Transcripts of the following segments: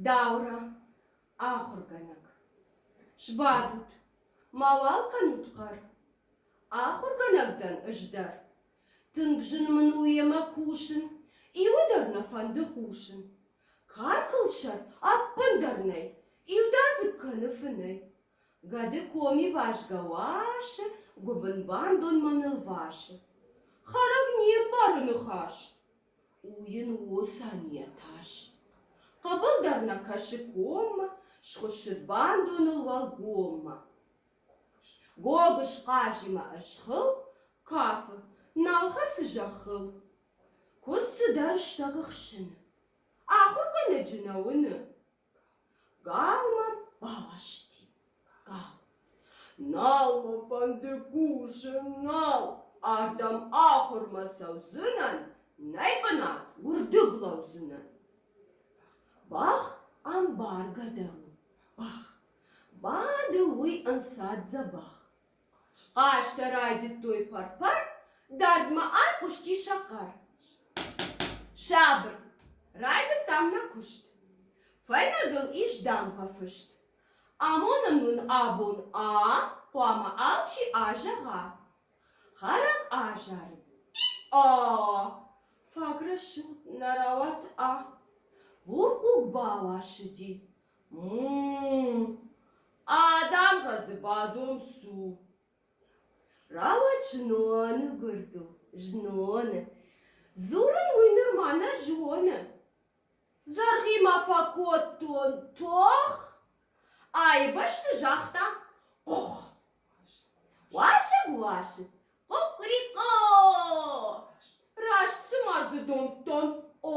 Даурӕ, ахуыргӕнӕг, сбадут, мауал кӕнут хъӕр. Ахуыргӕнӕг дӕн ӕз дӕр. Тынг зын мын у йемӕ кусын, иуы дӕр нӕ фӕнды хъусын. Каркълсӕр ӕппындӕр нӕй, иудадзыг кӕны фынӕй. Гӕды коми вазгӕ уасы, гуыбын бандонмӕ нылвасы. Хӕрӕг не мбары ныхас. У йын уосан йӕ тас. Хъӕбыл дӕр нӕ кӕсы коммӕ, Схуыссыд бандоныл уӕлгоммӕ. Гогыз хъазимӕ ысхыл, Кафы, нал хӕцы зӕххыл. Куыд цыдӕр стӕгы хсыны, Ахуыргӕнӕджы нӕ уыны. Галман баласти, гал. Нал мӕ фӕнды кусын, нал, ардӕм ахуырмӕ цӕудзынӕн, нӕй бынат уырдыг лӕудзынӕн. Бӕх ӕмбаргӕ дӕр у, бӕх. Бады уый ӕнцад дзӕбӕх. Хъазтӕ райдыдтой пӕр-пӕр, дардмӕ айхъуысти сӕ хъӕр. Сабыр, райдыдтам нӕ куыст. Фӕйнӕгыл ис дамгъӕ фыст. Амонын уын абон а, хъуамӕ алчи азӕгъа. Хӕрӕг азарыд. И-а! Фаг рӕсугъд нӕ рауад а. Бурхъуг бауасыди. Адӕм хъӕдзы бадом цу. Рауад зноны гуырдыл, зноны. Дзурын уый нырма нӕ зоны. Зӕргъимӕ фӕкодтон тох, айбӕсты загъта къух. Уасыг, уасыг, къукърикъо! Раст цыма дзы домдтон о.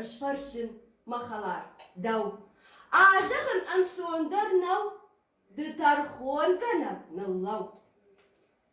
Ысфӕрсын, мӕ хӕлар, дӕу. Азӕгъын ӕнцондӕр нӕу, ды тӕрхонгӕнӕг ныллӕу.